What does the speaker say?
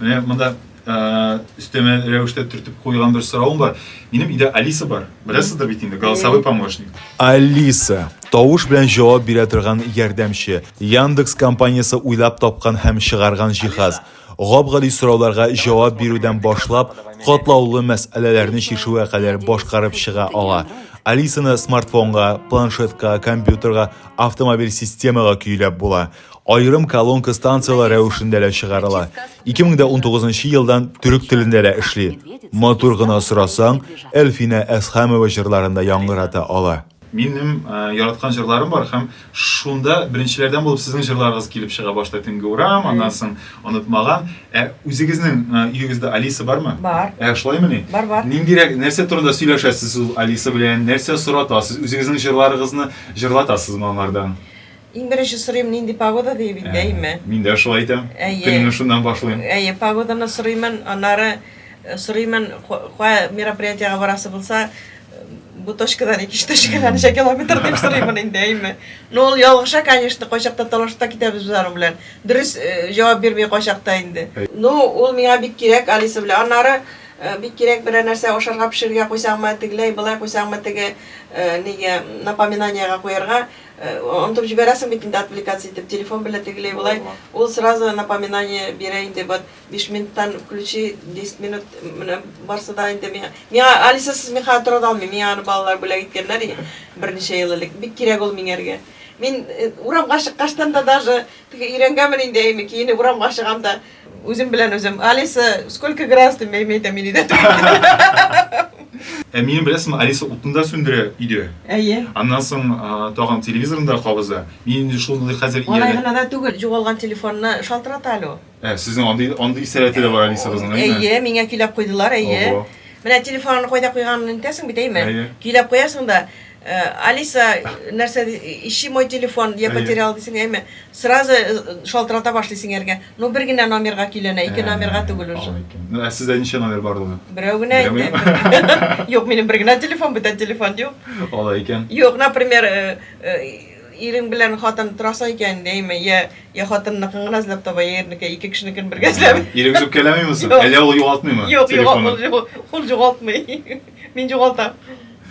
Менә монда өстәмә рәвештә төртеп куйган бер соравым бар. Минем өйдә Алиса бар. Беләсездер бит инде, голосовой помощник. Алиса, тавыш белән җавап бирә торган ярдәмче. Яндекс компаниясе уйлап тапкан һәм чыгарган җиһаз. Гап-гади сорауларга җавап бирүдән башлап, катлаулы мәсьәләләрне чишүгә кадәр башкарып чыга ала. Алисаны смартфонга, планшетка, компьютерга, автомобиль системага көйләп була. Аерым колонка станцияләр рәвешендә дә чыгарыла. 2019 елдан төрек телендә дә эшли. Матур гына сорасаң, Әлфинә Әсхәмова җырларын да яңгырата ала. Минем яраткан җырларым бар һәм шунда беренчеләрдән булып сезнең җырларыгыз килеп чыга, башта Төнге урам, аннан соң Онытмаган. Ә үзегезнең өегездә Алиса бармы? Бар. Ә шулаймыни? Бар, бар. Ниндирәк, нәрсә турында сөйләшәсез ул Алиса белән, нәрсә соратасыз, үзегезнең җырларыгызны җырлатасызмы аңардан? Иң беренче сорыйм, нинди погода, диеп инде, әйеме? Мин дә шулай әйтәм. Әйе. Көнемне шуннан башлыйм. Әйе, погоданы сорыймын, аннары сорыймын, кая мероприятиегә барасы булса, бу точкадан икенче точкага ничә километр дип сорыймын инде, әйеме? Ну, ул ялгыша, конечно, кайчакта талашып та китәбез без аның белән. Дөрес җавап бирми кайчакта инде. Ну, ул миңа бик кирәк, Алиса белән. Аннары бик кирәк берәр нәрсә ашарга пешерергә куйсаңмы, тегеләй, болай куйсаңмы, теге, нигә, напоминаниегә куярга. Онытып җибәрәсең бит инде отвлекаться итеп, телефон белән тегеләй болай, ул сразу напоминание бирә инде, вот биш минуттан включи, десять минут менә барсы да инде миңа, миңа Алисасыз мин хәзер тора да алмыйм, миңа аны балалар бүләк иткәннәр иде берничә ел элек, бик кирәк ул миңәргә. Мин урамга чыккачтан да даже, теге өйрәнгәнмен инде әйме киенеп урамга чыгам да, Үзем белән үзем. Алиса, сколько градус ты имеет аминидат? Ә минем беләсеңме, Алиса утны да сүндерә өйдә. Әйе. Аннан соң тагын телевизорны да кабыза. Мин инде шуны хәзер иярә. Алай гына да түгел, җугалган телефонны шалтырата әле ул. Ә, сезнең андый андый сәләте дә бар Алисабызның, әйеме? Әйе, миңа көйләп куйдылар, әйе. Менә телефонны кайда куйганын онытасың бит, әйеме? Әйе. Көйләп куясың да, Алиса, нәрсә ди, ищи мой телефон, я потерял дисең, әйме, сразу шалтырата башлый сеңәргә. Ну, бер генә номерга көйләнә, ике номерга түгел уже. Алай икән. Ну, ә сездә ничә номер бар ул? Берәү генә Берәү инде. генә? Юк, минем бер генә телефон, бүтән телефон юк. Алай икән. Юк, например, э, э, ирең белән хатын торасың икән, әйме, я, я хатынныкын гына эзләп таба, я ирнеке, ике кешенекен бергә эзләп. Ирегез үпкәләмиме соң? Юк. Әллә ул югалтмыймы Юк, юк, телефонын? ул, ул, ул югалтмый. Мин югалтам.